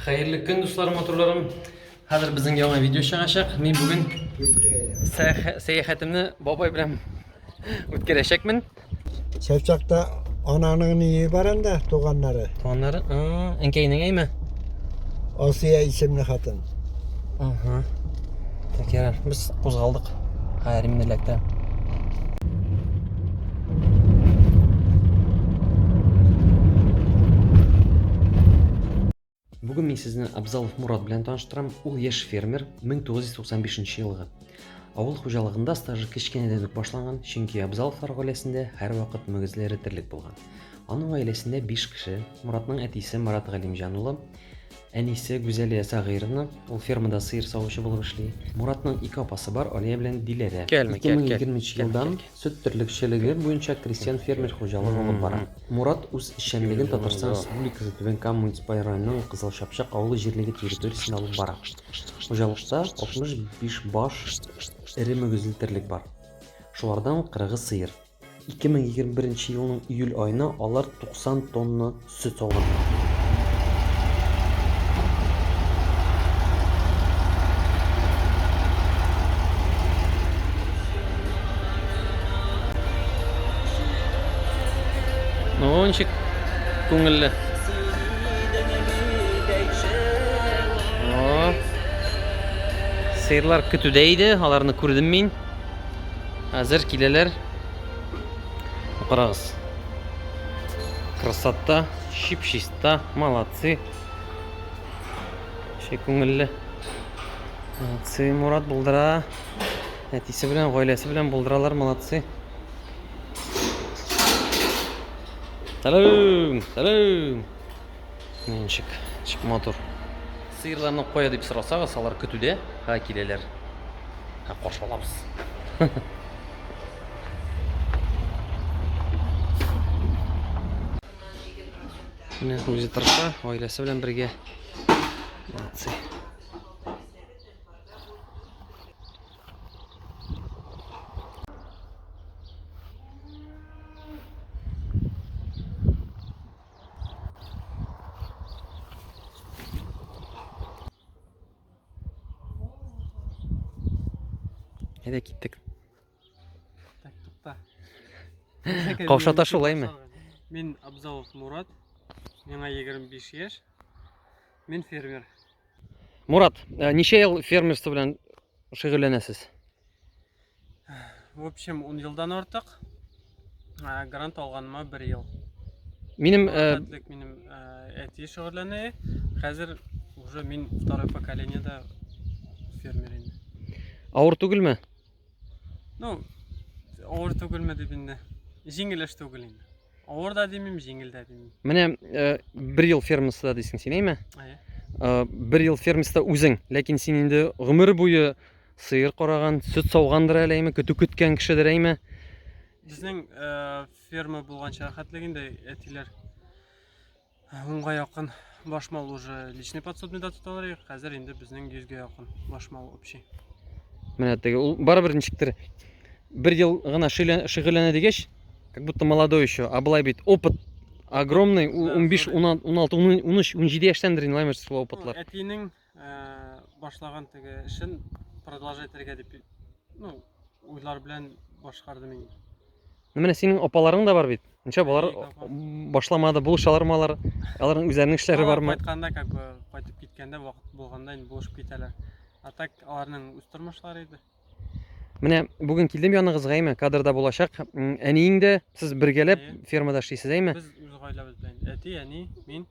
Хәерле көн, дусларым, матурларым. Хәзер безнең яңа видео чыгачак. Мин бүген сәяхәтемне бабай белән үткәрәчәкмен. Чәчәктә ананың ние бар инде, туганнары. Туганнары? Әнкәйнең әйме? Асия исемле хатын. Угу. Так, ярар, без кузгалдык. Ха, ремне эләктерәм. Бүген мин сезне Абзалов Мурат белән таныштырам. Ул яшь фермер, 1995 елгы. Авыл хуҗалыгында стажы кечкенәдән үк башланган, чөнки Абзаловлар гаиләсендә һәрвакыт мөгезләре терлек булган. Аның гаиләсендә 5 кеше, Муратның әтисе Марат Галимҗан улы, Әнисе, Гүзәлия Сәгыйровна, ул фермада сыер савучы булып эшли. Муратның ике апасы бар, Алия белән Диләрә. 2020 нче елдан сөт терлекчелеге буенча крестьян-фермер хуҗалык алып бара. Мурат үз эшчәнлеген Татарстан Республикасы Түбән Кама муниципаль районының Кызыл Чапчак авылы җирлеге территориясендә алып бара. Хуҗалыкта 65 баш эре мөгезле терлек бар. Шулардан кырыгы сыер. 2021 елның июль аена алар 90 тонна сөт алган. Балкончик күңелле. Сыерлар көтүдә иде, аларны күрдем мин. Әзер киләләр. Карагыз. Красота, чип-чиста, молодцы. Ши күңелле. Молодцы, Мурат булдыра. Әтисе белән, гаиләсе белән булдыралар, молодцы. Сәлам, сәлам. Ничек? Чик матур. Сыерларны кая дип сорасагыз, алар көтүдә, ха киләләр. Ха каршы алабыз. Менә үзе тырыша, гаиләсе белән бергә. Молодцы. Әйдә киттек. Так, тукта. Каушата шулаймы? Мин Абзалов Мурат. Миңа 25 яшь. Мин фермер. Мурат, э, ничә ел фермерство белән шөгыльләнәсез? В общем, 10 елдан артык. Ә, Грант алганыма 1 ел. Минем э, Хәтлек минем ә, әти шөгыльләнә. Хәзер уже мин второе поколениедә фермер инде. авыр түгелме? Ну, авыр түгелме дип инде. Җиңел эш түгел инде. Авыр да димим, җиңел дә димим. Менә э, бер ел фермасында дисең син, әйме? Әйе. Э, бер ел фермасында үзең, ләкин син инде гомер буе сыер караган, сөт саугандыр әле, әйме, көтү көткән кешедер, әйме? Безнең э, ферма булганча рәхәтлек инде әтиләр Онга якын баш мал уже личный подсобныйда тоталар иде. Хәзер инде безнең 100гә якын баш мал общий. Менә теге ул барыбер ничектер бер ел гына шөгыльләнә дигәч, как будто молодой еще, а былай бит опыт огромный, 15, 16, 13, 17 яшьтәндер инде лаймер слова опытлар. Әтинең башлаган теге эшен продолжать итәргә дип ну уйлар белән башкардым инде менә синең апаларың да бар бит ничә болар башламады булышалармы алар аларның үзләренең эшләре бармы кайтканда как бы кайтып киткәндә вакыт булганда инде булышып китәләр а так аларның үз тормышлары иде Менә бүген килдем яныгызга, әйме, кадрда булачак. Әниең дә сез бергәләп фермада эшлисез, әйме? Без үз гаиләбез белән. Әти, әни, мин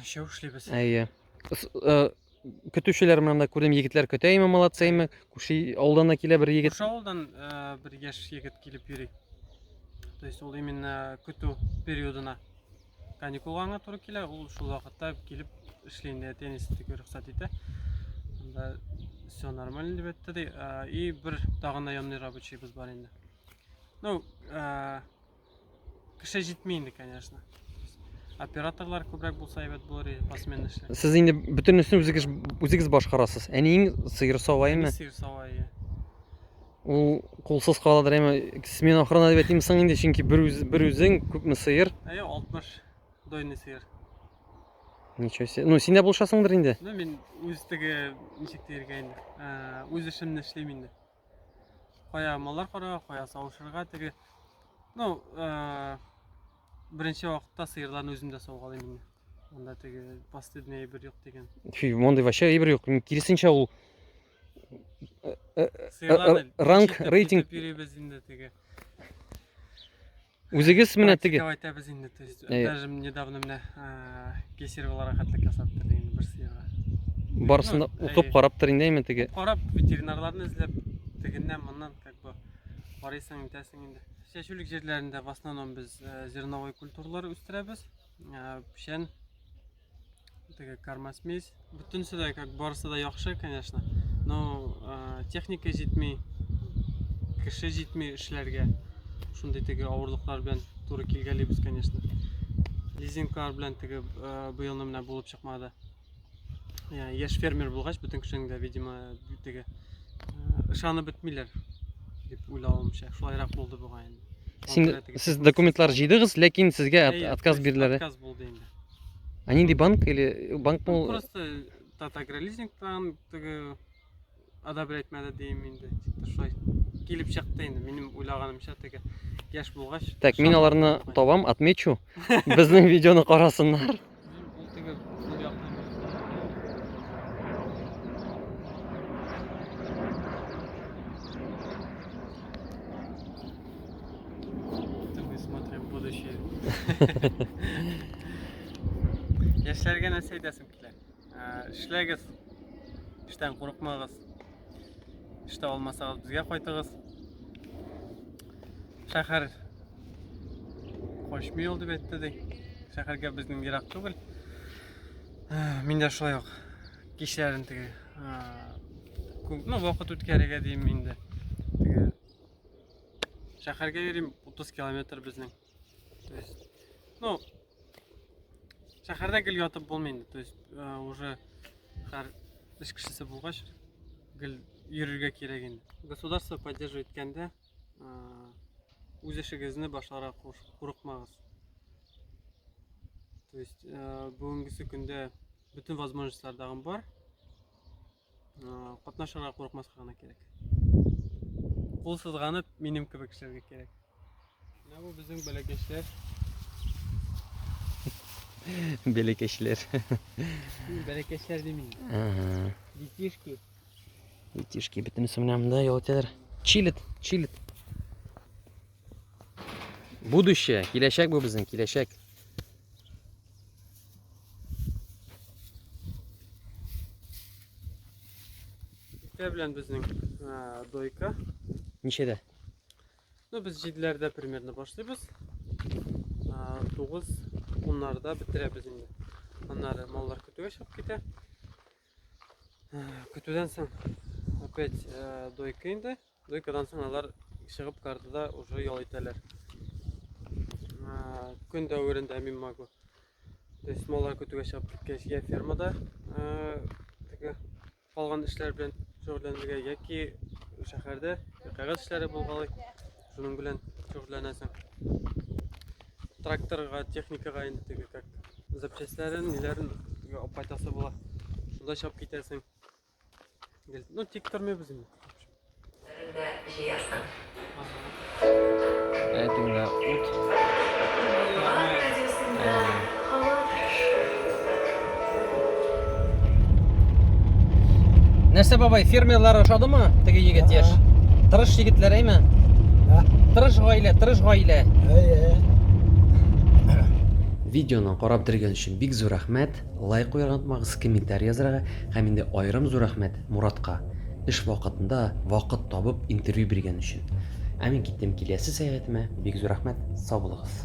шәү эшлибез. Әйе. Э, көтүчеләр менә монда күрдем, егетләр көтә, әйме, молодцы, әйме. Күрше авылдан да килә бер егет. Күрше авылдан э, бер яшь егет килеп йөри. То есть ул именно көтү периодына каникулга гына туры килә, ул шул вакытта килеп эшли инде, әти әнисе тик рөхсәт итә. Анда все нормально дип әйтте ди. И бер тагын наемный рабочийбыз бар инде. Ну, кеше җитми инде, конечно. Операторлар күбрәк булса әйбәт булыр иде, посмен эшле. Сез инде бөтенесен үзегез үзегез башкарасыз. Әниең сыер саваймы? Сыер савайы. Ул кулсыз каладыр әмма смена охрана дип әйтим соң инде, чөнки бер үз бер үзең күпме сыер? Әйе, 60 дойный сыер. Ничего себе. Ну, синдә булышасыңдыр инде. Ну, мин үз теге ничек диергә инде. Э, үз эшемне эшлим инде. Кая маллар карага, кая савышырга теге. Ну, э, беренче вакытта сыерларны үзем дә саугалыйм инде. Монда теге последний әйбер юк дигән. Фи, мондый вообще әйбер юк. Киресенчә ул Сыйланы. Ранг, Ничек рейтинг. итеп йөрибез инде теге. Үзегез менә теге. Практика әйтәбез инде. То есть, Әйе. даже недавно менә э, кесер буларак хәтлек ясап бирде инде бер сыерга. Барысын да Ну, укып әйе. карап тор инде әйме теге. Карап, ветеринарларны эзләп, тегеннән, моннан, как бы, карыйсың, итәсең инде. Чәчүлек җирләрендә в основном без э, зерновой культуралар үстерәбез. Э, Печән, Такая кармасмесь. Бөтенесе дә, как барысы да яхшы, конечно. Но э, техника җитми, кеше җитми эшләргә. Шундый теге авырлыклар белән туры килгәлибез, конечно. Лизинглар белән теге э, быелны менә булып чыкмады. Я, яшь фермер булгач, бөтен кешенең дә, видимо, теге э, ышанып бетмиләр дип уйлавымча. Шулайрак булды бугай инде. Син, сез документлар җыйдыгыз, ләкин сезгә от- Әйе, отказ бирделәр. Отказ булды инде. А нинди банк или банк Ну, мул? Просто тат агролизингтан теге одобрять мәдә дим инде. Тик шулай килеп чыкты инде. Минем уйлаганымча теге яшь булгач. Так, мин аларны табам, отмечу. Безнең видеоны карасыннар. Это мы смотрим будущее. Яшьләргә нәрсә әйтәсең килә? Эшләгез, эштән курыкмагыз. Эштә алмасагыз безгә кайтыгыз. Шәһәр качмый ул дип әйтте ди. Шәһәргә безнең ерак түгел. Мин дә шулай ук кичләрен теге ну, вакыт үткәрергә дим инде. Шәһәргә йөрим 30 километр безнең. То есть, ну, шәһәрдә гел ятып булмый инде. То есть, э, уже һәр эш кешесе булгач, гел йөрергә кирәк инде. Государство поддерживай иткәндә, э, үз эшегезне башларга курыкмагыз. То есть, э, бүгенгесе көндә бөтен возможностьлар бар. Катнашырга курыкмаска гына кирәк. Кул сызганып, минем кебек эшләргә кирәк. Менә бу безнең бәләкәчләр. Бәләкәчләр. Бәләкәчләр димим. Ага. Детишки. Детишки бөтенесе менә монда ял итәләр. Чилит, чилит. Будущее, киләчәк бу безнең, киләчәк. Иртә белән безнең ә, дойка. Ничәдә? Ну, без җиделәрдә примерно башлыйбыз. Ә, Тугыз, уннарда бетерәбез инде. Аннары маллар көтүгә чыгып китә. Ә, Көтүдән соң опять ә, дойка инде. Дуйкадан соң алар чыгып картада уже ял итәләр. Көн дәверендә мин могу. То есть маллар көтүгә чыгып киткәч, я фермада теге калган эшләр белән шөгыльләнергә яки шәһәрдә кәгазь эшләре булгалый. Шуның белән шөгыльләнәсең. Тракторга, техникага инде теге как запчастьләрен, ниләрен апайтасы була. Шунда чап китәсең. Ну, тик тормыйбыз инде. Җыярсың. Әтүңә ут. Нәрсә бабай, фермерлар ошадымы? Теге егет яш. Тырыш егетләр әйме? Тырыш гаилә, тырыш гаилә. Әйе. Видеоны карап дергән өчен бик зур рәхмәт. Лайк куярга онытмагыз, комментарий язарга һәм инде аерым зур рәхмәт Моратка, эш вакытында вакыт табып интервью биргән өчен. Ә мин киттем киләсе сәяхәтемә, бик зур рәхмәт, сау булыгыз.